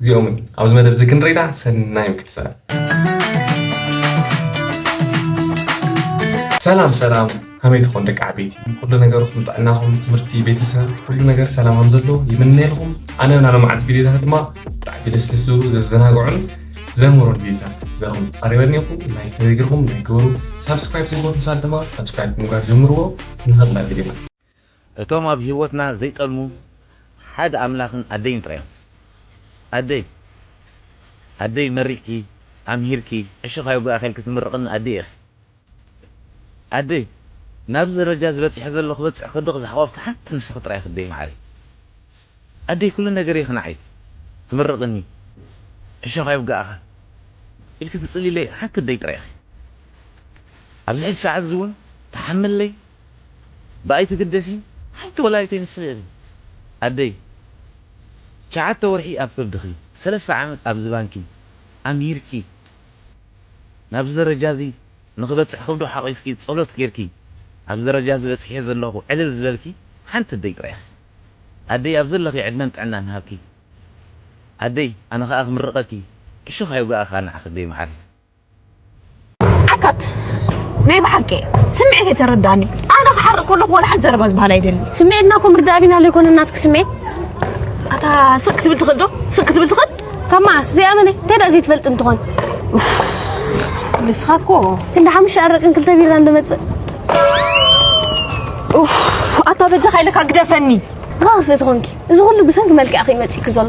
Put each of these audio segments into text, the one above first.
እዚኦምን ኣብዚ መደብ እዚ ክንርኢዳ ሰናይ ምክትታል። ሰላም ሰላም ከመይ ትኾን ደቂ ዓበይቲ ኩሉ ነገርኩም ጥዕናኹም ትምህርቲ ቤተሰብ ኩሉ ነገር ሰላም ከም ዘሎ ይምነየልኩም ኣነ ናይ ሎምዓንቲ ቪድዮታት ድማ ብጣዕሚ ደስ ደስ ዝብሉ ዘዘናግዑን ዘምህሩን ቪድዮታት ዘኹም ቀሪበኒ ይኹ ናይ ተዘግርኩም ናይ ግበሩ ሳብስክራይብ ዘይገበርኩም ሰባት ድማ ሳብስክራይብ ምግባር ጀምርዎ ንኸብላ ቪድዮና እቶም ኣብ ሂወትና ዘይጠልሙ ሓደ ኣምላኽን ኣደይን ጥራይ እዮም። ኣደይ ኣደይ መሪቕኪ ኣምሂርኪ ዕሽኽ ኣይውጋእካ ኢልኪ ትምርቕኒ ኣደይ ኢኺ። ኣደይ ናብዚ ደረጃ እዚ በጺሐ ዘለኹ ክበጽሕ ከድኽ ዝሓቖፍኪ ሓንቲ ንስኺ ጥራይ ኢኺ ኣደይ መዓረይ። ኣደይ ኩሉ ነገረይ ኢኺ ንዓይ ትምርቕኒ ዕሽኽ ኣይውጋእካ ኢልኪ ትጽልይለይ ሓንቲ ኣደይ ጥራይ ኢኺ። ኣብዚ ሕጂ ሰዓት እዚ እውን ትሓምለይ ብኣይ ትግደሲ ሓንቲ ወላዲተይ ንስኺ ኢኺ ኣደይ ትሽዓተ ወርሒ ኣብ ከብድኺ ሰለስተ ዓመት ኣብ ዝባንኪ ኣምሂርኪ ናብዚ ደረጃ እዚ ንኽበፅሕ ከብዱ ሓቂፍኪ ፀሎት ጌርኪ ኣብዚ ደረጃ እዚ በፂሐ ዘለኹ ዕልል ዝበልኪ ሓንቲ ኣደይ ጥራይ ኢኺ ኣደይ ኣብ ዘለኺ ዕድመን ጥዕናን ይሃብኪ ኣደይ ኣነ ኻኣ ክምርቀኪ ዕሾኽ ኣይውጋኣካ ናዓኺ ኣደይ ማዓረይ። ዓካት ናይ ብሓቂ ስምዒተይ ተረዳኒ ኣነ ክሓርቕ ከለኹ ወላ ሓንቲ ዘረባ ዝበሃል ኣይደልን ስምዒትና እኮ ምርዳእ ቢና ዘይኮነ ናትኪ ስምዒት ኣታ ስቅ ክትብል ትኽእል ዶ ስቅ ክትብል ትኽእል ካብ መዓስ ዘይኣመነ እንታይ ደኣ ዘይትፈልጥ እንትኾን ንስኻ እኮ ክንዲ ሓሙሽተ ኣረቅን ክልተ ቢራ እንደመፅእ ኣታ በጃኻ ኢለካ ግደፈኒ ንኻ ክትፍእቲ ኮንኪ እዚ ኩሉ ብሰንኪ መልክዕኺ እዩ መፂእኪ ዘሎ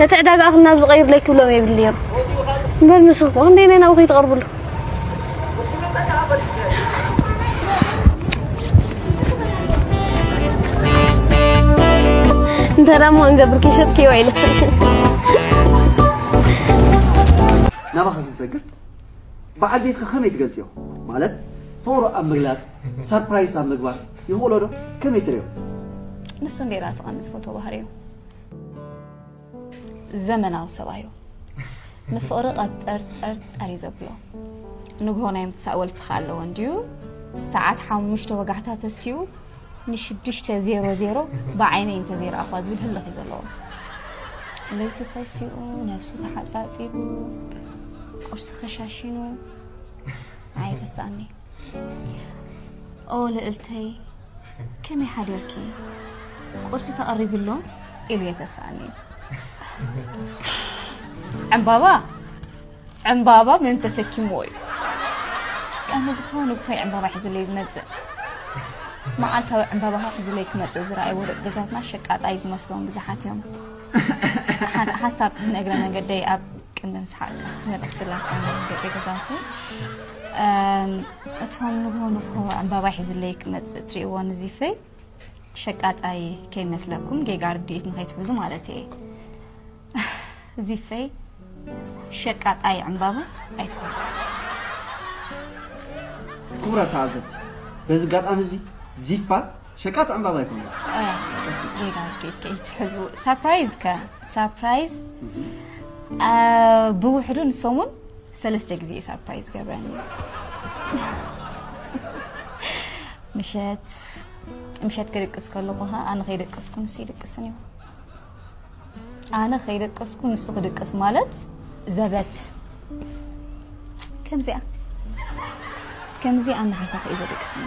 ነቲ ዕዳጋኣ ክናብ ዝቐይርለይ ክብሎም የብሉን ነይሩ እምበር ንሱ እኮ ክንደየናይ ናብኡ ከይትቐርብሉ እንተ ደሞ እንገብር ከይሸጥክዮ ኢለ ናባኻ ክንሰግር በዓል ቤትካ ከመይ ትገልጽዮ ማለት ፍቕሩ ኣብ ምግላጽ ሳርፕራይዝ ኣብ ምግባር ይኽእሎ ዶ ከመይ ትሪኦ ንሱ እንዴ ራስኻ ምስ ፎቶ ባህሪዮ ዘመናዊ ሰብኣዩ ንፍቕሪ ቀብጠርጠርጠር እዩ ዘብሎ ንግሆ ናይ ምትሳእ ወልፍኻ ኣለዎ እንድዩ ሰዓት ሓሙሽተ ወጋሕታ ተስኡ ንሽዱሽተ ዜሮ ዜሮ ብዓይነይ እንተዘይረኣኹዋ ዝብል ህልኽ እዩ ዘለዎ ለይቲ ተስኡ ነብሱ ተሓፃፂቡ ቁርሲ ከሻሽኑ ኣይተሳእኒ ኦ ልእልተይ ከመይ ሓደርኪ ቁርሲ ተቐሪብሎ ኢሉ የተስኣኒ ዕምባባ ዕምባባ መን ተሰኪምዎ እዩ ቀንዲ ብኾኑ ብኮይ ዕምባባ ሒዝለይ ዝመፅእ መዓልታዊ ዕምባባ ሒዝለይ ክመፅእ ዝረኣይዎ ደቂ ገዛትና ሸቃጣይ ዝመስሎም ብዙሓት እዮም ሓንቲ ሓሳብ ንእግረ መንገደይ ኣብ ቅድሚ ምስሓቅካ መልእክቲ ላካ ደቂ ገዛውቲ እቶም ንጎ ንጎ ዕምባባ ሒዝለይ ክመፅእ እትሪእዎ ንዚፈይ ሸቃጣይ ከይመስለኩም ጌጋ ርድኢት ንከይትሕዙ ማለት እየ ዚፈይ ሸቃጣይ ዕምባባ ኣይኮነ ክቡራት ተዓዘብቲ በዚ ኣጋጣሚ እዚ ዚፋ ሸቃጥ ዕምባባ ኣይኮነን። ሌላ ኬት ከ ይትሕዙ ሳፕራይዝ ከ ሳፕራይዝ ብውሕዱ ንሰሙን ሰለስተ ግዜ እዩ ሳፕራይዝ ገብረኒ ምሸት ምሸት ክድቅስ ከለኹ ኣነ ከይደቀስኩ ንሱ ይድቅስን እዩ ኣነ ከይደቀስኩ ንሱ ክድቅስ ማለት ዘበት ከምዚኣ ከምዚ ኣናሓፋፈ እዩ ዘደቅስኒ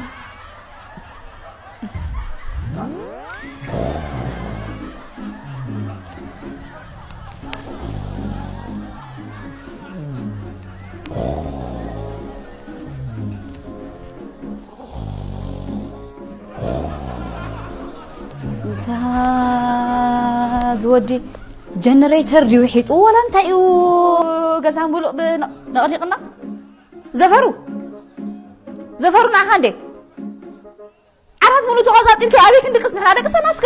እንታ እዚ ወዲ ጀነሬተር ድዩ ሒጡ ዋላ እንታይ እዩ ገዛ ሙሉእ ብነቕኒቕና ዘፈሩ ዘፈሩ ንዓኻ እንዴ ዓራት ሙሉእ ተቐፃፂልካ ኣበይ ክንድቅስ ንሕና ደቅሰና እስከ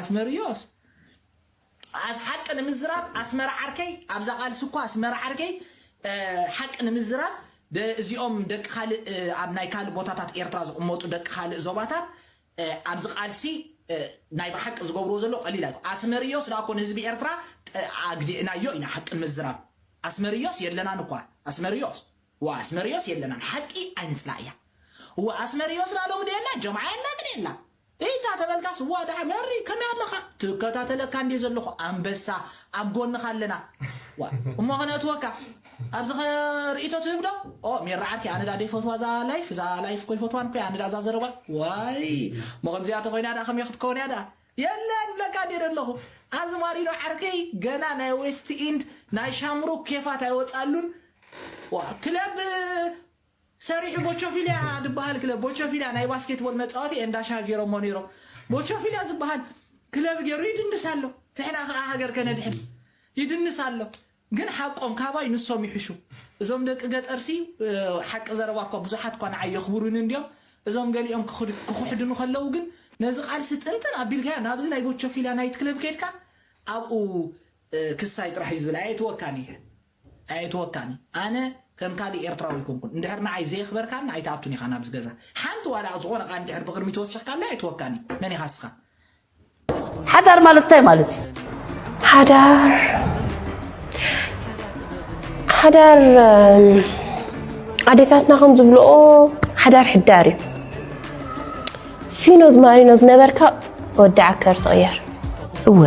ኣስመርዮስ ኣስ ሓቂ ንምዝራብ ኣስመራ ዓርከይ ኣብዛ ቃልሲ እኳ ኣስመራ ዓርከይ ሓቂ ንምዝራብ እዚኦም ደቂ ካልእ ኣብ ናይ ካልእ ቦታታት ኤርትራ ዝቕመጡ ደቂ ካልእ ዞባታት ኣዚ ቃልሲ ናይ ብሓቂ ዝገብርዎ ዘሎ ቀሊል ኣይኮ ኣስመርዮስ ድኣኮ ንህዝቢ ኤርትራ ኣግዲዕናዮ ኢና ሓቂ ንምዝራብ ኣስመርዮስ የለናን እኳ ኣስመርዮስ ዋእ ኣስመርዮስ የለናን ሓቂ ኣይንጽላእያ ዋእ ኣስመርዮስ ድኣ ሎሚ ዶ የላ ጀምዓ የላ ምን የላ እይታ ተበልካስ ዋእ ድኣ መሪ ከመይ ኣለኻ ትከታተለካ እንዴ ዘለኹ ኣንበሳ ኣብ ጎንኻ ኣለና ዋእ እሞ ከነእትወካ ኣብዚ ከ ርእቶ ትህብ ዶ? ኦ ሜሪ ዓርከይ ኣነ ድኣ ደይፈትዋ እዛ ላይፍ እዛ ላይፍ እኮ ኣይፈትዋን እኮ ኣነ ድኣ እዛ ዘረባ ዋይ እሞ ከምዚኣ ተኮይና ድኣ ከመይ ክትከውን እያ ድኣ የለን ብለካ እንዲየ ደለኹ ኣዝማሪኖ ዓርከይ ገና ናይ ዌስት ኢንድ ናይ ሻምሩክ ኬፋት ኣይወጻሉን ዋ ክለብ ሰሪሑ ቦቾፊልያ ድበሃል ክለብ ቦቾፊልያ ናይ ባስኬትቦል መጻወቲ ኤንዳሻ ገይሮሞ ነይሮም ቦቾፊልያ ዝበሃል ክለብ ገይሩ ይድንስ ኣሎ ንሕና ከዓ ሃገር ከነድሕን ይድንስ ኣሎ ግን ሓቆም ካባይ ንሶም ይሕሹ እዞም ደቂ ገጠርሲ ሓቂ ዘረባ እኳ ብዙሓት እኳ ንዓይ የኽብሩኒ እንድዮም እዞም ገሊኦም ክኽሕዱኒ ከለዉ ግን ነዚ ቃልሲ ጥንጥን ኣቢልካዮ ናብዚ ናይ ቦቾፊላ ናይት ክለብ ከድካ ኣብኡ ክስታይ ጥራሕ እዩ ዝብል ኣየትወካን እየ ኣየትወካን ኣነ ከም ካልእ ኤርትራዊ ኣይኮንኩን እንድሕር ንዓይ ዘየኽበርካኒ ኣይትኣቱን ኢኻ ናብዚ ገዛ ሓንቲ ዋላ ዝኾነ ቃል እንድሕር ብቕድሚት ወሲኽካለይ ኣይትወካን እዩ መን ኢኻ እስኻ ሓዳር ማለት እንታይ ማለት እዩ? ሓዳር ሓዳር ኣዴታትና ከም ዝብልኦ ሓዳር ሕዳር እዩ። ፊኖዝ ማሪኖ ዝነበርካ ወዲ ዓከር ትቕየር እወ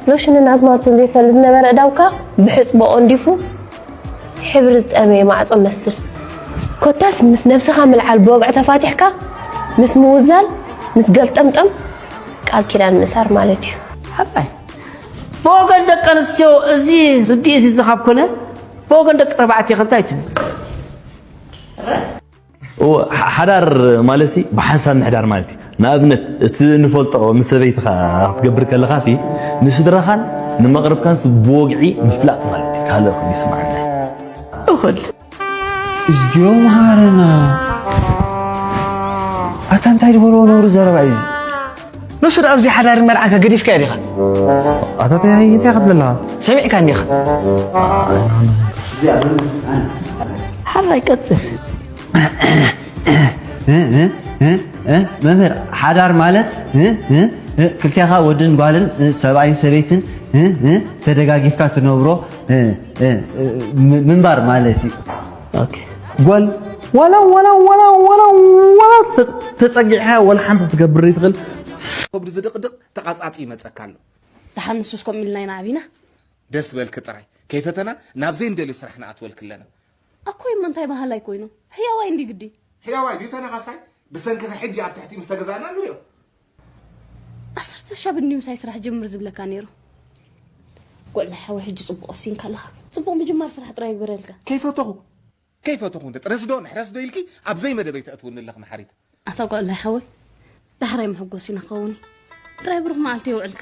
ሎሽንን ኣዝማርቱን ዘይፈል ዝነበረ እዳውካ ብሕፅቦ ኦንዲፉ ሕብሪ ዝጠመየ ማዕጾ መስል ኮታስ ምስ ነብስኻ ምልዓል ብወግዒ ተፋቲሕካ ምስ ምውዛል ምስ ገልጠምጠም ቃል ኪዳን ምእሳር ማለት እዩ ሓቃይ ብወገን ደቂ ኣንስትዮ እዚ ርድኢት እዚ ካብ ኮነ ብወገን ደቂ ተባዕትዮ ከ እንታይ ትብሉ እወ ሓዳር ማለት ሲ ብሓንሳብ ምሕዳር ማለት እዩ። ንኣብነት እቲ ንፈልጦ ምስ ሰበይትኻ ክትገብር ከለኻ ሲ ንስድራኻን ንመቕርብካን ሲ ብወግዒ ምፍላጥ ማለት እዩ። ካልእ ኮይኑ ይስምዓና እኹል እዝጊዮ መሃረና ኣታ እንታይ ዝበልዎ ነውሪ ዘረባ እዩ። ንሱ ደኣ ኣብዚ ሓዳርን መርዓንካ ገዲፍካዮ ዲኻ? ኣታ ተያይ እንታይ ከብለላ ሰሚዕካ እንዲኻ ሓራይ ቀጽል መምህር ሓዳር ማለት ክልቴኻ ወድን ጓልን ሰብኣይን ሰበይትን ተደጋጊፍካ ትነብሮ ምንባር ማለት እዩ። ጓል ዋላ ዋላ ዋላ ዋላ ዋላ ተጸጊዕካ ዋላ ሓንቲ ትገብር ይትኽእል ከብዱ ዝድቕድቕ ተቓጻጺ ይመጸካ ኣሎ ድሓን ንሱስ ከምኡ ኢልና ኢና ዓቢና ደስ በልኪ ጥራይ ከይፈተና ናብ ዘይንደልዮ ስራሕ ንኣትወልክ ኣለና ኣኮይ እሞ እንታይ በሃላይ ኮይኑ ሕያዋይ እንዲ ግዲ ሕያዋይ ድዩ ተነኻሳይ ብሰንክኺ ሕጂ ኣብ ትሕቲኡ ምስ ተገዛእና ንሪኦ ዓሰርተ ሻብ እኒ ምሳይ ስራሕ ጀምር ዝብለካ ነይሩ ጎዕለ ሓወይ ሕጂ ጽቡቅ ወሲንካ ኣለኻ ጽቡቅ ምጅማር ስራሕ ጥራይ ይግበረልካ። ከይፈተኹ ከይፈተኹ እንደ ጥረስ ዶ ንሕረስ ዶ ኢልኪ ኣብ ዘይመደበይ ተእትውኒ ኣለኺ መሓሪት። ኣታ ጎዕላይ ሓወይ ዳሕራይ መሐጎሲና ክኸውን እዩ ጥራይ ብሩኽ መዓልቲ የውዕልካ።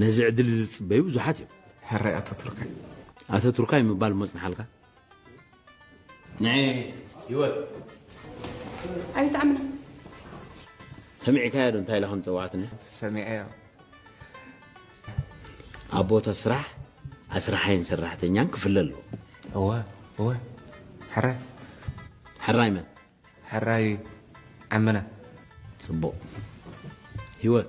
ነዚ ዕድል እዚ ዝጽበዩ ብዙሓት እዮም። ሕራይ ኣተቱርካይ። ኣተቱርካይ ምባል እሞ ጽንሓልካ። ንዒ ህይወት። ኣቤት ዓምና። ሰሚዕካዮ ዶ እንታይ ኢላ ከም ዝጸውዓትኒ? ሰሚዐዮ። ኣብ ቦታ ስራሕ ኣስራሓይን ሰራሕተኛን ክፍለ ኣለዎ። እወ እወ ሕራይ። ሕራይ መን? ሕራይ ዓምና። ጽቡቕ ህይወት።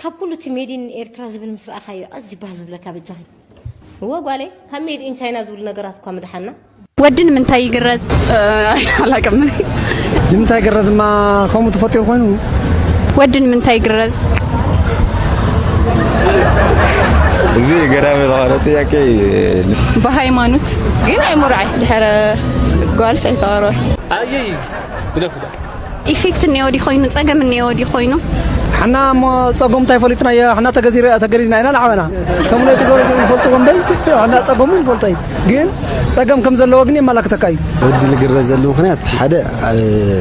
ካብ ኩሉ እቲ ሜድ ኢን ኤርትራ ዝብል ምስ ረኣኻዮ ኣዝዩ ባህ ዝብለካ በጃኺ። እወ ጓለይ ካብ ሜድ ኢን ቻይና ዝብሉ ነገራት እኳ ምደሓና። ወዲ ንምንታይ ይግረዝ? ኣላቅም ንምንታይ ግረዝ እማ ከምኡ ተፈጢሩ ኮይኑ ወዲ ንምንታይ ይግረዝ? እዚ ገራሚ ዝኾነ ጥያቄ እዩ። ብሃይማኖት ግን ኣይምርዓይ ድሕረ ጓልስ ኣይተቐርበ ኣየይ ግደፉ። ኢፌክት እኔዎ ድዩ ኮይኑ ጸገም እኔዎ ድዩ ኮይኑ ሕና እሞ ጸጎም እንታይ ፈሊጥናዮ ሕና ተገሪዝና ኢና ንዓበና እቶም ነቲ ገሩ ንፈልጥዎ እምበይ ሕና ጸገሙ ንፈልጦ እዩ ግን ጸገም ከም ዘለዎ ግን የመላክተካ እዩ ወዲ ልግረ ዘሉ ምክንያት ሓደ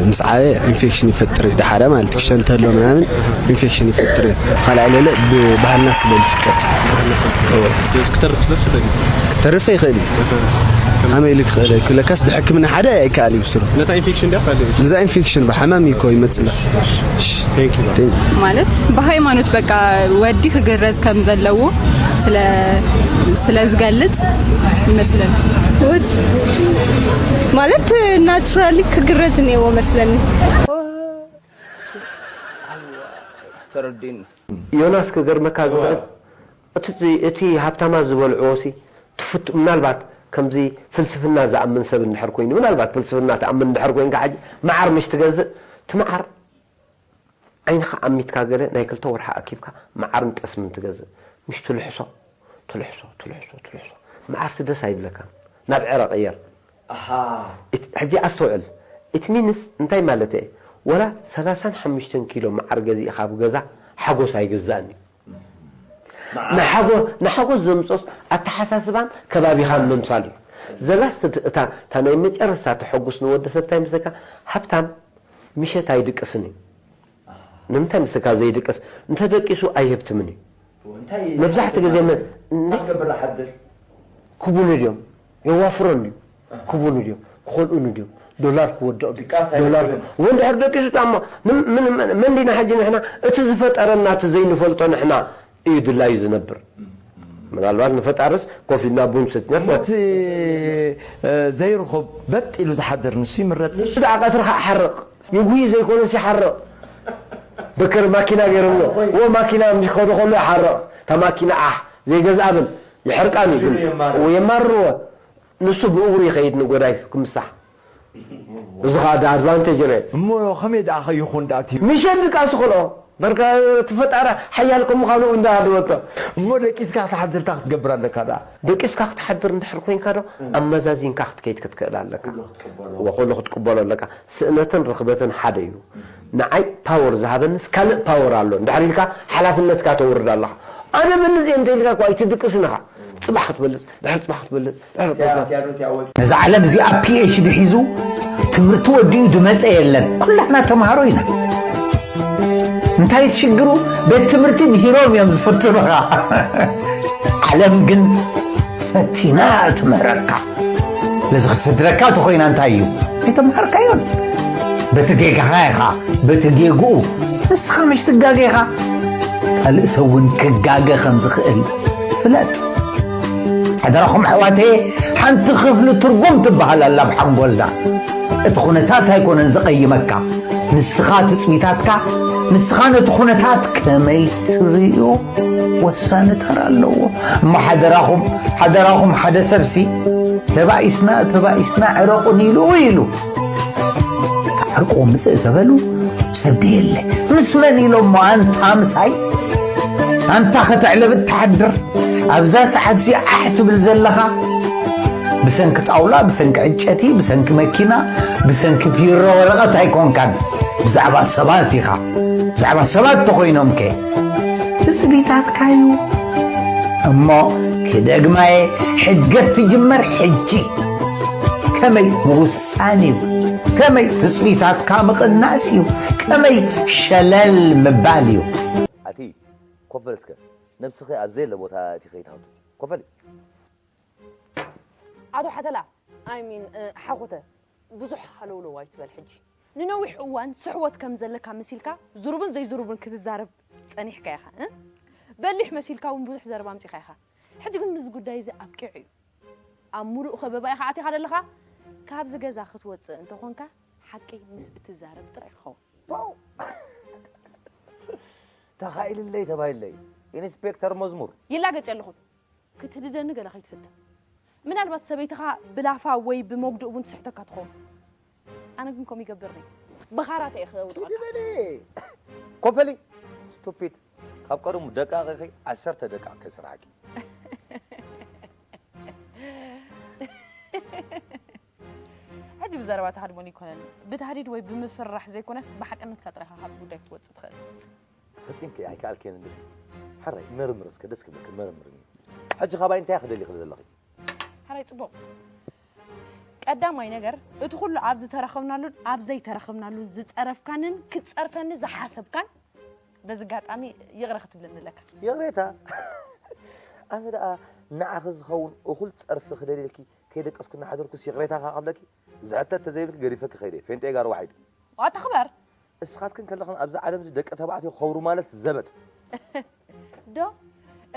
ምስ ዓበ ኢንፌክሽን ይፈጥር እዩ ሓደ ማለት ክሸን ተሎ ምናምን ኢንፌክሽን ይፈጥር እዩ ካልኣይ ለለ ብባህልና ስለ ዝፍቀድ ክተርፍ ይኽእል እዩ ከመይ ኢሉ ክኽእል እዩ ለካስ ብሕክምና ሓደ ኣይከኣል እዩ ብስሩ ነታ ኢንፌክሽን ድያ ካልእ እዛ ኢንፌክሽን ብሓማም እኮ ይመፅላ ማለት ብሃይማኖት በቃ ወዲ ክግረዝ ከም ዘለዎ ስለ ስለ ዝገልጽ ይመስለኒ ማለት ናቹራሊ ክግረዝ ነይዎ መስለኒ ተረዲኒ ዮናስ ክገርመካ ዝኽእል እቲ እቲ ሃብታማት ዝበልዕዎሲ ትፍቱ ምናልባት ከምዚ ፍልስፍና ዝኣምን ሰብ እንድሕር ኮይኑ ምናልባት ፍልስፍና ትኣምን እንድሕር ኮይንካ ሕጂ መዓር ምሽ ትገዝእ እቲ መዓር ዓይንኻ ኣሚትካ ገለ ናይ ክልተ ወርሒ ኣኪብካ መዓርን ጠስምን ትገዝእ ምሽ ትልሕሶ ትልሕሶ ትልሕሶ ትልሕሶ መዓርሲ ደስ ኣይብለካን ናብ ዕረ ቅየር ኣሃ ሕጂ ኣስተውዕል ኢት ሚንስ እንታይ ማለተይ እየ ወላ ሰላሳን ሓሙሽተን ኪሎ መዓር ገዚእኻ ኣብ ገዛ ሓጎስ ኣይግዛእን እዩ። ንሓጎስ ዘምጽኦስ ኣተሓሳስባን ከባቢኻን ምምሳል እዩ። ዘላስት እታ እታ ናይ መጨረስታ ተሐጉስ ንወዲ ሰብ ታይ ምስለካ ሃብታም ምሸት ኣይድቅስን እዩ ንምንታይ ምስልካ ዘይድቅስ እንተደቂሱ ኣይህብትምን እዩ መብዛሕትኡ ግዜ ክቡሉ ድዮም የዋፍሮን ድዩ ክቡሉ ድዮም ክኸልኡኒ ድዮም ዶላር ክወድቕ ድዩ ድቃስ ኣይኮነን። ዶላር ክብ- ወይ እንድሕር ደቂሱ ጣማ ምን- ምን- ምን- መን ዲና ሕጂ ንሕና እቲ ዝፈጠረና እቲ ዘይንፈልጦ ንሕና እዩ ድላዩ ዝነብር ምናልባት ንፈጣርስ ኮፍ ኢልና ቡን ሰቲና እሞ እቲ እ፣ ዘይርኹብ በጥ ኢሉ ዝሓድር ንሱ ይምረጽ ንሱ ደኣ ቀትሪ ከዓ ሓርቕ ይጉይ ዘይኮነስ ይሓርቕ በከር ማኪና ገይሮምዎ ወ ማኪና ምስ ከዱ ከሎ ይሓርቕ እታ ማኪና ዓሕ ዘይገዝኣ በል ይሕርቃኒ ግን እው የማርርወ ንሱ ብእግሩ ይኸይድ ንጎዳይፍ ክምሳሕ እዚ ኸኣ ዳኣ ኣድቫንተጅ ረ። እሞ ከመይ ዳኣ ከይኹን ዳኣ እቲ። ምሸት ድቃስ ይኸልኦ በርካ እቲ ፈጣሪ ሓያል ከም ምኻኑ እው እንዳ ሃደወቶ። እሞ ደቂስካ ክትሓድር እንታይ ክትገብር ኣለካ ዳኣ። ደቂስካ ክትሓድር እንድሕር ኮይንካ ዶ ኣመዛዚንካ ክትከይድ ክትክእል ኣለካ እወ ኩሉ ክትቅበሎ ኣለካ ስእነትን ርኽበትን ሓደ እዩ። ንዓይ ፓወር ዝሃበንስ ካልእ ፓወር ኣሎ እንድሕር ኢልካ ሓላፍነትካ ተውርድ ኣለኻ ኣነ እበልጽ እየ እንተ ኢልካኳ ኣይትድቅስን ኢኻ ጽባሕ ክትበልጽ ድሕሪ ጽባሕ ክትበልጽ ድሕሪ ጽባሕ ነዛ ዓለም እዚኣ PHD ሒዙ ትምህርቲ ወዲኡ ድመጸ የለን ኩላትና ተማሃሮ ኢና እንታይ እቲ ሽግሩ ቤት ትምህርቲ ምሂሮም እዮም ዝፍትኑኻ ዓለም ግን ፈቲና እያ ትምህረካ ነዚ ክትስድረካ እንተኾይና እንታይ እዩ ኣይተምሃርካዮን በቲ ጌጋኻ ኢኻ በቲ ጌግኡ ንስኻ መሽ ትጋገ ኢኻ ካልእ ሰብ እውን ክጋገ ከም ዝኽእል ፍለጥ ሓደራኹም ኣሕዋተ ሓንቲ ክፍሊ ትርጉም ትበሃል ኣላ ኣብ ሓንጎልና እቲ ኩነታት ኣይኮነን ዝቐይመካ ንስኻ ትፅቢታትካ ንስኻ ነቲ ኩነታት ከመይ ትርእዮ ወሳኒ ተራ ኣለዎ እሞ ሓደራኹም ሓደራኹም ሓደ ሰብሲ ተባኢስና ተባኢስና ዕረቑን ኢሉ ኢሉ ዕርቁ ምፅእ ተበሉ ሰብ ደየለ ምስ መን ኢሎሞ ኣንታ ምሳይ ኣንታ ከተዕለብ እትሓድር ኣብዛ ሰዓት እዚ ዓሕ ትብል ዘለኻ ብሰንኪ ጣውላ ብሰንኪ ዕንጨቲ ብሰንኪ መኪና ብሰንኪ ቢሮ ወረቐት ኣይኮንካን ብዛዕባ ሰባት ኢኻ ብዛዕባ ሰባት ተኾይኖም ከ ትጽቢታትካዩ እሞ ክደግማየ ሕድገት ትጅመር ሕጂ ከመይ ምውሳን እዩ ከመይ ትጽቢታትካ ምቕናስ እዩ ከመይ ሸለል ምባል እዩ ኣቲ ኮፍ በል እስከ ነብስኺ ኣብ ዘየለ ቦታ እቲ ከይትሃውት ኮፍ በል ኣቶ ሓተላ ኣይሚን ሓኹተ ብዙሕ ሃለውለው ኣይትበል ሕጂ ንነዊሕ እዋን ስሕወት ከም ዘለካ መሲልካ ዝሩብን ዘይዝሩብን ክትዛረብ ጸኒሕካ ኢኻ እ በሊሕ መሲልካ እውን ብዙሕ ዘረባ ኣምጺኻ ኢኻ ሕጂ ግን እዚ ጉዳይ እዚ ኣብቂዑ እዩ ኣብ ምሉእ ከበባ ኢኻ ኣቲኻ ዘለኻ ካብዚ ገዛ ክትወጽእ እንተኾንካ ሓቂ ምስ እትዛረብ ጥራይ ክኸውን ተኻኢልለይ ተባሂለይ ኢንስፔክተር መዝሙር ይላገጽ ኣለኹ ክትህድደኒ ገለ ከይትፍትን ምናልባት ሰበይትኻ ብላፋ ወይ ብመጉዲ እውን ትስሕተካ ትኸውን ኣነ ግን ከምኡ ይገብርኒ ብኻራተ እየ ክውድቐካ ኪዲ በሊ ኮፈሊ ስቱፒድ ካብ ቀደሙ ደቃቕ ኢኺ ዓሰርተ ደቃቕ ከስርሓኪ ሕጂ ብዘረባ ተሃድሞን ይኮነን ብታህዲድ ወይ ብምፍርራሕ ዘይኮነስ ብሓቅነትካ ጥራይካ ካብዚ ጉዳይ ክትወፅእ ትኽእል ፈፂምኪ ኣይከኣልክን እንዲ ሓራይ መርምር እስከ ደስ ክብለኪ መርምርኒ ሕጂ ካባይ እንታይ ክደሊኺ ዘለኺ ሓራይ ፅቡቕ ቀዳማይ ነገር እቲ ኩሉ ኣብ ዝተረኸብናሉን ኣብ ዘይተረኸብናሉን ዝጸረፍካንን ክትጸርፈኒ ዝሓሰብካን በዚ ኣጋጣሚ ይቕረ ክትብለኒ ኣለካ ይቕሬታ ኣነ ደኣ ንዓኺ ዝኸውን እኹል ጸርፊ ክደልየልኪ ከይደቀስኩ እናሓደርኩስ ይቕሬታ ከቐብለኪ ዝሕተት ተዘይብልኪ ገዲፈኪ ከይደ ፌንጤ ጋር ዋሒድ ዋታ ክበር እስኻትክን ከለኽን ኣብዚ ዓለም እዚ ደቂ ተባዕትዮ ክኸብሩ ማለት ዘበት ዶ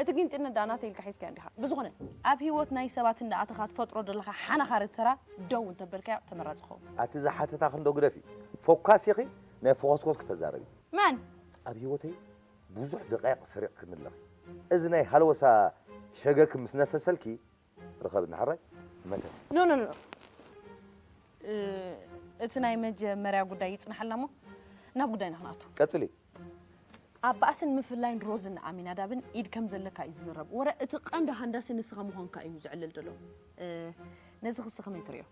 እቲ ጊንጢነት ደኣ ናተይ ኢልካ ሒዝካዮ እንዲኻ ብዝኾነ ኣብ ህይወት ናይ ሰባት እንዳኣተኻ ትፈጥሮ ዘለኻ ሓናኻሪ ተራ ደው እንተበልካዮ ተመራጺ ይኸውን ኣቲ ዝሓተታ ክንዶ ግደፊ ፎካስ ኢኺ ናይ ፎኾስኮስ ክተዛረቢ መን ኣብ ህይወተይ ብዙሕ ደቃይቕ ሰሪቕክኒ ኣለኺ እዚ ናይ ሃለወሳ ሸገኪ ምስ ነፈሰልኪ ርኸብኒ ሓራይ መተት ኖ ኖ ኖ እ፣ እቲ ናይ መጀመርያ ጉዳይ ይጽናሓልና እሞ ናብ ጉዳይና ክንኣቱ ቀጽሊ ኣብ ባእስን ምፍላይን ሮዝን ኣሚናዳብን ኢድ ከም ዘለካ እዩ ዝዝረብ ወረ እቲ ቀንዲ ሃንዳሲ ንስኻ ምዃንካ እዩ ዘዕልል ዘሎ እ፣ ነዚ ክሲ ከመይ ትሪኦ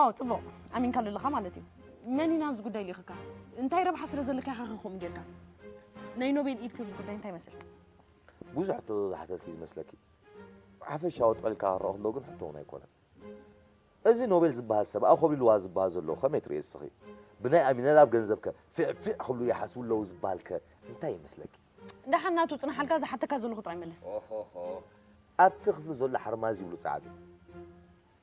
ኣዎ ጽቡቕ ኣሚንካ ኣለኻ ማለት እዩ መን ኢና ኣብዚ ጉዳይ ልኢኽካ እንታይ ረብሓ ስለ ዘለካ ኢኻ ከምኡ ጌርካ ናይ ኖቤል ኢድ ክብዚ ጉዳይ እንታይ መስልካ ብዙሕ ሕቶ ዝሓተትኪ ዝመስለኪ ሓፈሻዊ ጠልካ ክረኦ ከሎ ግን ሕቶ እውን ኣይኮነን እዚ ኖቤል ዝበሃል ሰብ ኣኾቢልዋ ዝበሃል ዘሎ ከመይ ትርእየ እስኺ ብናይ ኣሚነል ኣብ ገንዘብ ከ ፊዕፊዕ ክብሉ ይሓስቡ ኣለዉ ዝበሃል ከ እንታይ ይመስለኪ ደሓን ናቱ ፅንሓልካ ዝሓተካ ዘለኹ ጥራይ መለስ ኣብቲ ክፍሊ ዘሎ ሓርማዝ ይብሉ ፃዕዱ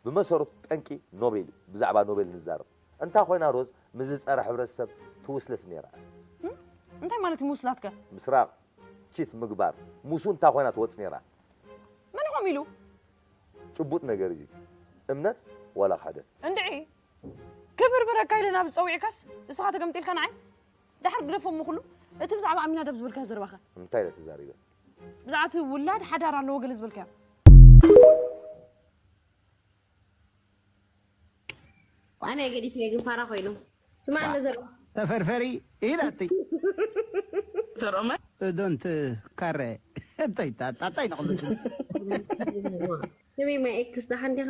ብመሰረቱ ጠንቂ ኖቤል እዩ ብዛዕባ ኖቤል ንዛረብ እንታ ኮይና ሮዝ ምስዚ ጸረ ሕብረተሰብ ትውስልት ኔራ እያ። እንታይ ማለት እዩ ምውስላት ከ? ምስራቅ ቺት ምግባር ምስኡ እንታ ኮይና ትወጽ ኔራ። መን ኢኹም ኢሉ? ጭቡጥ ነገር እዩ እዚ እምነት ዋላ ክሕደት። እንድዒ ክብርብረካ ኢለ ናብዚ ጸዊዕካስ እስኻ ተገምጢልካ ንዓይ? ደሓር ግደፎ እሞ ኩሉ እቲ ብዛዕባ ኣሚናዳብ ዝበልካዮ ዘረባ ከ? እንታይ ኢለ ተዛሪበ? ብዛዕባ እቲ ውላድ ሓዳር ኣለዎ ገለ ዝበልካዮ ኣነ ገዲፍኒ ግን ፋራ ኮይኑ ስማዕኒ ዘር ተፈርፈሪ ኢላቲ ዘርኦመ እዶንት ካረ እንታይ ታ- ጣጣይ ንቕሉ ስሚ ማይ ኤክስ ደሓን ዲኻ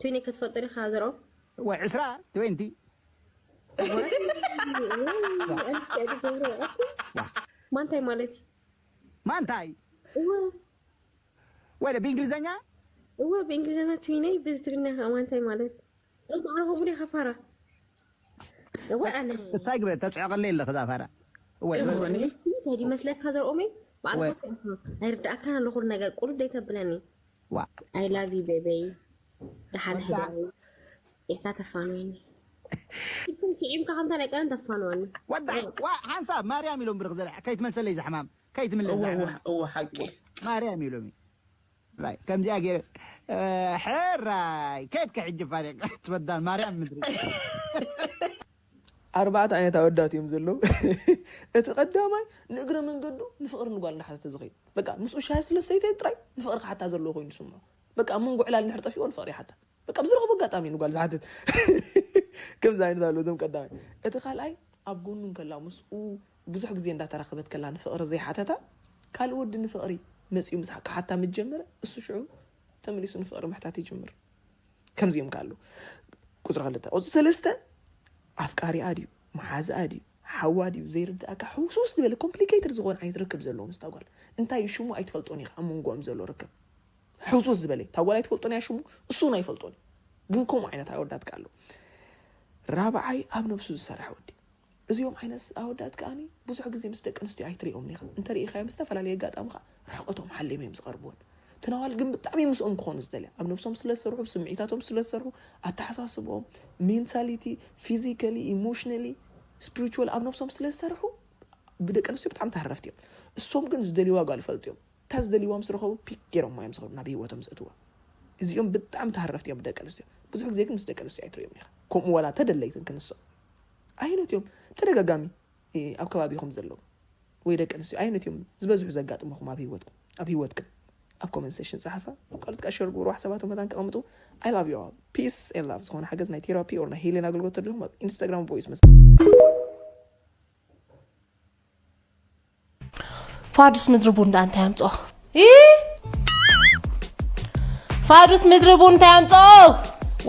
ትዊኒ ክትፈልጦ ዲካ ዘርኦ ወይ ዕስራ ትዌንቲ ማንታይ ማለት እዩ ማንታይ እወ ወይ ብእንግሊዘኛ እወ ብእንግሊዘኛ ትዊነይ ብትግርኛ ከማንታይ ማለት ማዕረ ከምኡ ዲካ ፋራ ወይ ኣነ እንታይ ግበ ተጽዕቀለይ ኣለኺ እዛ ፋራ ወይ ከዲ መስለካ ዘርኦመይ ባዕልካ ኣይርዳእካን ኣሎ ኩሉ ነገር ቁርብ ደይተብለኒ ዋ ኣይ ላቭ ዩ ቤበይ ደሓን ሕዳዊ ኢልካ ተፋንወኒ ኢልኩም ስዒብካ ከምታ ናይ ቀደም ተፋንወኒ ወዳ ዋ ሓንሳብ ማርያም ኢሎም ብርክ ዘርሕ ከይትመልሰለይ ዘሕማም ከይትምለስ እወ ዘሕማም እወ እወ ሓቂ ማርያም ኢሎም እዩ ራይ ከምዚኣ ገይረ ሕራይ ከየትኪ ሕጂ ፋሪቅ ትበዳል ማርያም ምድሪ ኣርባዕተ ዓይነት ኣወዳት እዮም ዘለዉ እቲ ቀዳማይ ንእግረ መንገዱ ንፍቕሪ ንጓል እንዳሓተተ ዝኸይድ በቃ ምስኡ ሻሂ ስለ ሰይተ ጥራይ ንፍቕሪ ክሓታ ዘለዎ ኮይኑ ስምዖ በቃ ኣብ መንጎ ዕላል ንድሕር ጠፊኦ ንፍቕሪ ይሓታ በቃ ብዝረኸቦ ኣጋጣሚ ንጓል ዝሓትት ከምዚ ዓይነት ኣለዉ እዞም ቀዳማይ እቲ ካልኣይ ኣብ ጎኑ እንከላ ምስኡ ብዙሕ ግዜ እንዳተራኸበት ከላ ንፍቕሪ ዘይሓተታ ካልእ ወዲ ንፍቕሪ መጺኡ ምስ ክሓታ ምስ ጀመረ እሱ ሽዑ ተመሊሱ ንፍቕሪ ምሕታት ይጅምር ከምዚኦም ከ ኣሉ ቁፅሪ ክልተ ቁፅሪ ሰለስተ ኣፍቃሪኣ ድዩ መሓዝኣ ድዩ ሓዋ ድዩ ዘይርድኣካ ሕውስውስ ዝበለ ኮምፕሊኬትድ ዝኾነ ዓይነት ርክብ ዘለዎ ምስ ታጓል እንታይ እዩ ሽሙ ኣይትፈልጦን ኢኻ ኣብ መንጎኦም ዘሎ ርክብ ሕውስውስ ዝበለ ታጓል ኣይትፈልጦን እያ ሽሙ እሱ እውን ኣይፈልጦን እዩ ግን ከምኡ ዓይነት ኣወዳትካ ኣሎ ራብዓይ ኣብ ነብሱ ዝሰርሐ ወዲ እዚኦም ዓይነት ኣወዳት ከኣ ብዙሕ ግዜ ምስ ደቀንስትዮ ኣይትሪኦምን ኢኻ፣ እንተ ርኢኻዮም ብዝተፈላለየ ኣጋጣሚ ከኣ ርሕቐቶም ሓልዮም እዮም ዝቐርቡወን። እተን ኣዋልድ ግን ብጣዕሚ እዮም ምስኦም ክኾኑ ዝደልያ፣ ኣብ ነብሶም ስለ ዝሰርሑ፣ ብ ስምዒታቶም ስለ ዝሰርሑ፣ ኣተሓሳስብኦም፣ ሜንታሊቲ፣ ፊዚካሊ፣ ኢሞሽናሊ፣ ስፕሪቹዋሊ፣ ኣብ ነብሶም ስለ ዝሰርሑ ብ ደቀንስትዮ ብጣዕሚ ተሃረፍቲ እዮም። እሶም ግን ዝደልዩዋ ጓል ይፈልጡ እዮም። እታ ዝደልዩዋ ምስ ረኸቡ ፒክ ጌሮማ እዮም ዝኸዱ ናብ ሂወቶም ዘእትዉዋ። እዚኦም ብጣዕሚ ተሃረፍቲ እዮም ብ ደቀንስትዮ፣ ብዙሕ ግዜ ግን ምስ ደቀንስትዮ ኣይትሪኦምን ኢኻ፣ ከምኡ ዋላ እንተ ደለይትን ክንሶም። ኣየኖት እዮም ተደጋጋሚ ኣብ ከባቢኹም ዘለዉ ወይ ደቂ ኣንስትዮ ኣየኖት እዮም ዝበዝሑ ዘጋጥመኹም ኣብ ሂወትኩም ኣብ ሂወትክን ኣብ ኮመንት ሴሽን ፀሓፋ ካልኦት ከዓ ሸር ግብሩ ሓሳባቶም መታን ተቐምጡ ኣይ ላቭ ዩ ኦል ፒስ ኤን ላቭ ዝኾነ ሓገዝ ናይ ቴራፒ ኦር ናይ ሄሌን ኣገልግሎት ተድልኹም ኣብ ኢንስታግራም ቮይስ መስ ፋዱስ ምድሪ ቡን ዳኣ እንታይ ኣምጽኦ ፋዱስ ምድሪ ቡን እንታይ ኣምጽኦ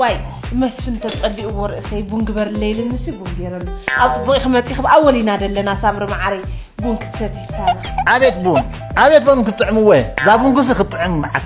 ዋይ መስፍን ተጸሊእዎ ርእሰይ ቡን ግበርለይ ኢልንሲ ቡን ገይረሉ ኣብ ጽቡቕ ክመጺ ክብ ኣወሊና ደለና ሳምሪ መዓረይ ቡን ክትሰቲ ይብታና ኣቤት ቡን ኣቤት ቡን ክትጥዕምወ እዛ ቡንኩሲ ክትጥዕም መዓት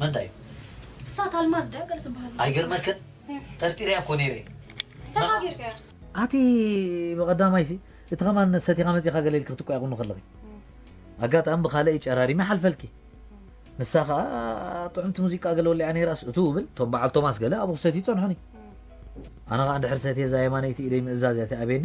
መንታይ እሳት ኣልማዝ ድያ ገለ ትበሃል ኣይገርመክን ጠርጢረያ እኮ ነይረ ተጋጊርካ እያ ኣቲ ብቐዳማይሲ እቲ ከማን ሰቲኻ መፂኻ ገለ ኢልክ ክትቋየቑኑ ከለኺ ኣጋጣሚ ብካልእ ጨራሪመ ሓልፈልኪ ንሳ ከዓ ጥዑምቲ ሙዚቃ ገለ ወሊዓ ነይራስ እቱ ብል እቶም በዓል ቶማስ ገለ ኣብኡ ክሰትዩ ይፀንሑኒ ኣነ ከዓ እንድሕር ሰትየ እዛ የማነይቲ ኢደይ ምእዛዝ እያ ትኣብየኒ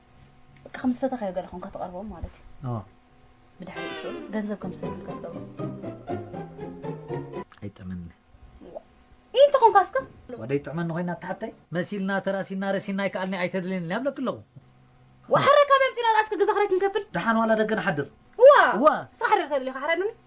በቃ ከም ዝፈተኻዮ ገለ ኮንካ ትቐርቦም ማለት እዩ اه ብድሕሪ እሱ ገንዘብ ከም ዝሰዱልካ ትገብሮ ኣይጥዕመኒ ይህ እንተ ኮንካ እስከ ወደይ ጥዕመኒ ኮይና ተሓተይ መሲልና ተራሲና ረሲና ኣይከኣልኒ ኣይተድልየኒ ኢለ ኣብለኪ ኣለኹ ወሓረ ካበይ ኣምፂና ደኣ እስከ ገዛ ክራይ ክንከፍል ደሓን ዋላ ደገ ንሓድር እዋ እዋ እስኻ ሓደር ተድልኻ ሓረዱኒ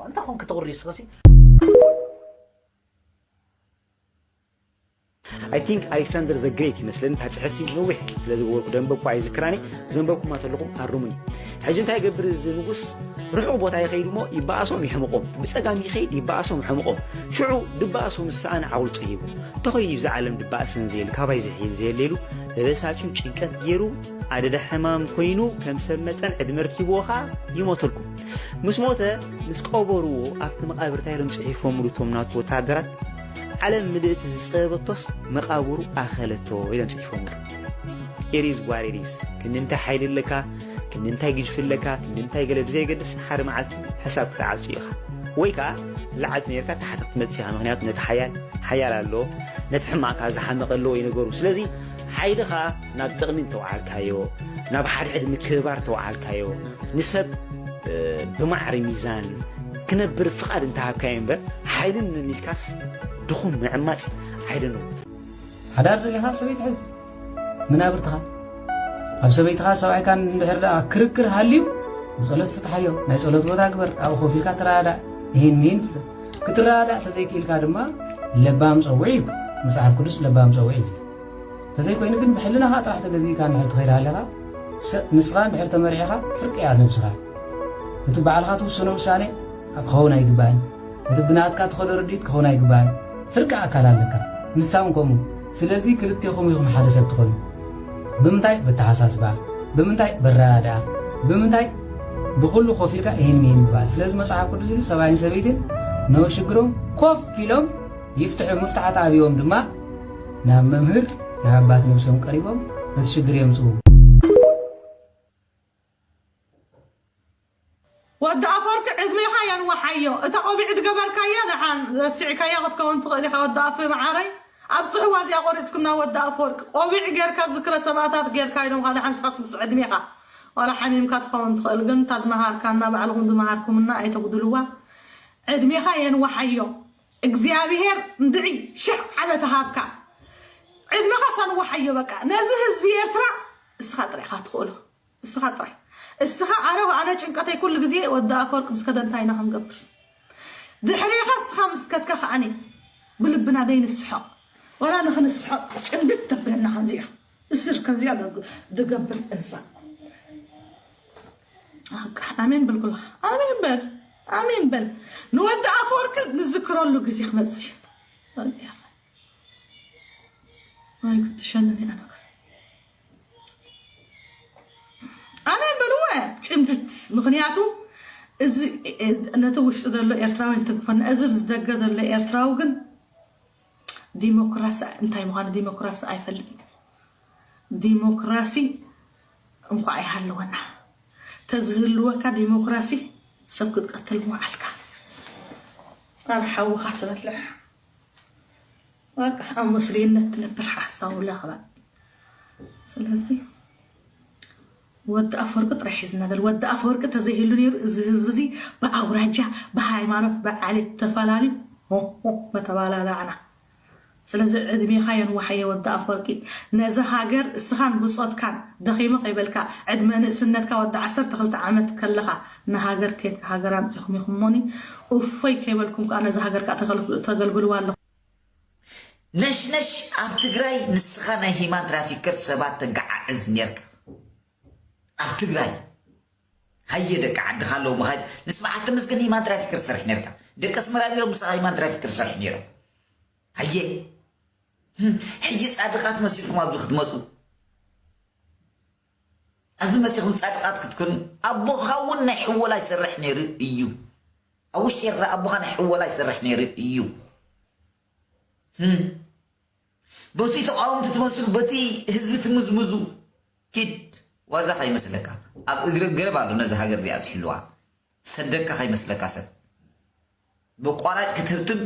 ዋንታ ኮንክ ትቕሪ ስኸሲ ኣይ ቲንክ ኣሌክሳንደር ዘ ግሬት ይመስለኒ እታ ፅሕፍቲ ነዊሕ ስለ ዝገበርኩ ደንበብኩ ኣይዝክራኒ ዘንበብኩማ ተለኹም ኣርሙኒ ሕጂ እንታይ ገብር እዚ ንጉስ ርሑቕ ቦታ ይኸይድ እሞ ይበኣሶም ይሕምቖም ብፀጋም ይኸይድ ይበኣሶም ሕምቖም ሽዑ ድበኣሶ ምስ ሰኣነ ዓውልጦ ሂቡ እንተኾይኑ ይብዛ ዓለም ድበኣሰን ዘየሉ ካባይ ዝሕይል ዘየለሉ ተበሳጭዩ ጭንቀት ገይሩ ኣደዳ ሕማም ኮይኑ ከም ሰብ መጠን ዕድመ ርኪብዎ ኸዓ ይሞተልኩም ምስ ሞተ ምስ ቀበርዎ ኣብቲ መቓብር እንታይ ኢሎም ጽሒፎምሉ እቶም ናቱ ወተሃደራት ዓለም ምልእቲ ዝጸበበቶስ መቓብሩ ኣኸለቶ ኢሎም ጽሒፎምሉ ኢሪዝ ዋሪሪዝ ክንዲ እንታይ ሓይሊ ኣለካ ክንዲ እንታይ ግጅፊ ኣለካ ክንዲ እንታይ ገለ ብዘየገድስ ሓደ መዓልቲ ሕሳብ ክትዓጹ ኢኻ ወይ ከዓ ላዕልቲ ነርካ ታሕቲ ክትመጽእ ኢኻ ምክንያቱ ነቲ ሓያል ሓያል ኣለዎ ነቲ ሕማቕካ ዝሓመቐ ኣለዎ ይነገሩ ስለዚ ሓይልኻ ናብ ጥቕሚ እንተውዓልካዮ፣ ናብ ሓድሕድ ምክብባር ተውዓልካዮ፣ ንሰብ ብማዕሪ ሚዛን ክነብር ፍቓድ እንተሃብካዮ እምበር፣ ሓይሊ ንነን ኢልካስ ድኹም ምዕማጽ ዓይደንው። ሓዳር ደሊኻ ሰበይቲ ሕዝ። መናብርትኻ ኣብ ሰበይትኻ ሰብኣይካን እንድሕር ደኣ ክርክር ሃልዩ ብጸሎት ፍትሓዮ። ናይ ጸሎት ቦታ ግበር፣ ኣብኡ ኮፍ ኢልካ ተረዳዳእ፣ እሂን ምሂን ፍትሕ። ክትረዳዳእ ተዘይክኢልካ ድማ ለባም ጸውዒ እዩ መጽሓፍ ቅዱስ ለባም ጸውዒ እዩ ተዘይኮይኑ ግን ብሕልናኻ ጥራሕ ተገዚእካ ንድሕር ትኸይድ ኣለኻ ንስኻ ንድሕር ተመሪዕኻ ፍርቂ እያ ነብስኻ እቲ በዓልካ ትውስኖ ውሳኔ ክኸውን ኣይግባእን እቲ ብናትካ ትኸዶ ርድኢት ክኸውን ኣይግባእን ፍርቂ ኣካል ኣለካ ንሳ እውን ከምኡ ስለዚ ክልቴኹም ኢኹም ሓደ ሰብ ትኾኑ። ብምንታይ በተሓሳስባ፣ ብምንታይ በረዳድኣ፣ ብምንታይ ብኹሉ ኮፍ ኢልካ ኢሂን ሚሂን ምባል። ስለዚ መጽሓፍ ቅዱስ ኢሉ ሰብኣይን ሰበይትን ን ሽግሮም ኮፍ ኢሎም ይፍትሑ፣ ምፍታሕ ተኣብዮም ድማ ናብ መምህር ናብ ኣባት ነብሶም ቀሪቦም እቲ ሽግር የምጽኡ። ወዲ ኣፎርቂ ዕድሜኻ የንዋሓዮ እታ ቆቢዕ ዝገበርካያ ደሓን ረሲዕካያ ክትከውን ትኽእል ኢኻ ወዲ ኣፎይ መዓረይ ኣብጽሕዋ እዚኣ ቆሪጽክና ወዲ ኣፎርቂ ቆቢዕ ጌርካ ዝክረ ሰማእታት ጌርካ ኢሎምኻ ደሓን ስኻስ ምስ ዕድሜኻ ዋላ ሓሚምካ ትኸውን ትኽእል ግን እታ ዝመሃርካና ባዕልኹም ዝመሃርኩምና ኣይተጉድልዋ ዕድሜኻ የንዋሓዮ እግዚኣብሄር እንድዒ ሽሕ ዓመት ሃብካ ዕድሜኻ ሰንዋሓዮ በቃ ነዚ ህዝቢ ኤርትራ እስኻ ጥራይ ኢኻ ትኽእሎ እስኻ ጥራይ እስኻ ኣረ ኣነ ጭንቀተይ ኩሉ ግዜ ወዲ ኣፈወርቅ ምስ ከደ እንታይ ኢና ክንገብር ድሕሬኻ እስኻ ምስ ከድካ ከዓኒ ብልብና ዘይንስሕቕ ዋላ ንኽንስሕቕ ጭንድድ ተብለና ከምዚኣ እስር ከምዚኣ ድገብር እንሳ ኣሜን በል ኩልኻ ኣሜን በል ኣሜን በል ንወዲ ኣፈወርቂ ንዝክረሉ ግዜ ክመፅእ እዩ ወይ ጉድ ትሸነኒ ኣነ ኣነ በልወ ጭምትት ምክንያቱ እዚ ነቲ ውሽጢ ዘሎ ኤርትራዊ እንትግፈና እዚ ብዝደገ ዘሎ ኤርትራዊ ግን ዲሞክራሲ እንታይ ምዃኑ ዲሞክራሲ ኣይፈልጥ ዲሞክራሲ እንኳ ኣይሃለወና ተዝህልወካ ዲሞክራሲ ሰብ ክትቀትል ምውዓልካ ኣብ ሓውኻ ትበልዕ በቃ ኣብ ምስሉይነት ትነብር ሓሳዊ ለኽባጥ ስለዚ ወዲ ኣፈወርቂ ጥራይ ሒዝና ዘል ወዲ ኣፈወርቂ ተዘይህሉ ነይሩ እዚ ህዝቢ እዚ ብኣውራጃ ብሃይማኖት ብዓሌት ተፈላለዩ ሆሆ መተባላላዕና ስለዚ ዕድሜኻ የንዋሓየ ወዲ ኣፈወርቂ ነዚ ሃገር እስኻን ብጾትካን ደኺመ ከይበልካ ዕድመ ንእስነትካ ወዲ ዓሰርተ ክልተ ዓመት ከለኻ ንሃገር ኬድካ ሃገር ኣምጺኹም ኢኹም እሞኒ እፎይ ከይበልኩም ከኣ ነዚ ሃገር ከኣ ተገልግልዋ ኣለኹም ነሽነሽ ኣብ ትግራይ ንስኻ ናይ ሂማን ትራፊከር ሰባት ተጋዓዕዝ ኔርካ ኣብ ትግራይ ሃየ ደቂ ዓድኻ ኣለዉ መኻይድ ንስ በዓል ተመስገን ሂማን ትራፊከር ትሰርሕ ኔርካ ደቂ ኣስመራ ኔሮም ንስኻ ሂማን ትራፊከር ትሰርሕ ኔሮም ሃየ ሕጂ ጻድቓት መሲልኩም ኣብዚ ክትመጹ ኣብዚ መጺኹም ጻድቃት ክትኮኑ ኣቦኻ ውን ናይ ሕወላ ይሰርሕ ነይሩ እዩ ኣብ ውሽጢ ኤርትራ ኣቦኻ ናይ ሕወላ ይሰርሕ ነይሩ እዩ ህም በቲ ተቃወምቲ ትመስሉ በቲ ህዝቢ ትምዝምዙ ኪድ ዋዛ ከይመስለካ ኣብ እግሪ ገረብ ኣሎ ነዚ ሃገር እዚኣ ዝሕልዋ ዝሰደካ ከይመስለካ ሰብ በቋራጭ ክትህብትም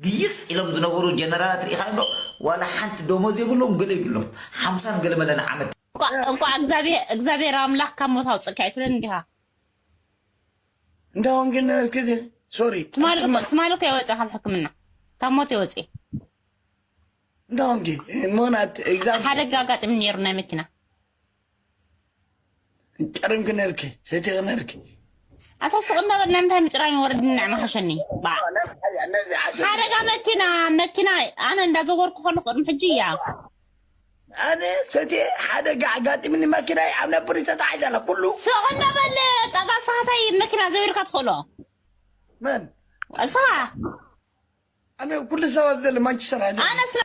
ግይጽ ኢሎም ዝነበሩ ጀነራላት ርኢኻዮም ዶ ዋላ ሓንቲ ዶሞዝ የብሎም ገለ ይብሎም ሓምሳን ገለመለ ን ዓመት እንቋዕ እንቋዕ እግዚኣብሔር እግዚኣብሔር ኣምላኽ ካብ ሞት ኣውጽእካ ኣይትብልን እንዲኻ እንታ ወንጌል ነበርክ ድየ ሶሪ ትማሊ እኮ ትማሊ እኮ የወጽእ ካብ ሕክምና ካብ ሞት የወጽእ እንታ ወንጌል ሞናት ሓደ እግዚኣብሔር ጊዜ ኣጋጢሙ ነይሩ ናይ መኪና ጨርም ክነልኪ ሰይቲ ክነልኪ ኣታ ስቕ እንዳበል ንምንታይ ምጭራይ ወረድኒ ንዕማ ሓሸኒ ባዕ ነዚ ሓቂ ሓደጋ መኪና መኪና ኣነ እንዳዘወርኩ ከለኹ ቅድሚ ሕጂ እያ ኣነ ሰቲ ሓደጋ ኣጋጢምኒ መኪናይ ኣብ ናይ ፖሊስ ተታሒዘ ኣላ ኩሉ ስቕ እንዳበል ጠጋ ሰሓታይ መኪና ዘዊርካ ትኽእሎ መን እስኻ ኣነ ኩሉ ሰብ ኣብ ዘሎ ማንቸስተር ኣነ ስለ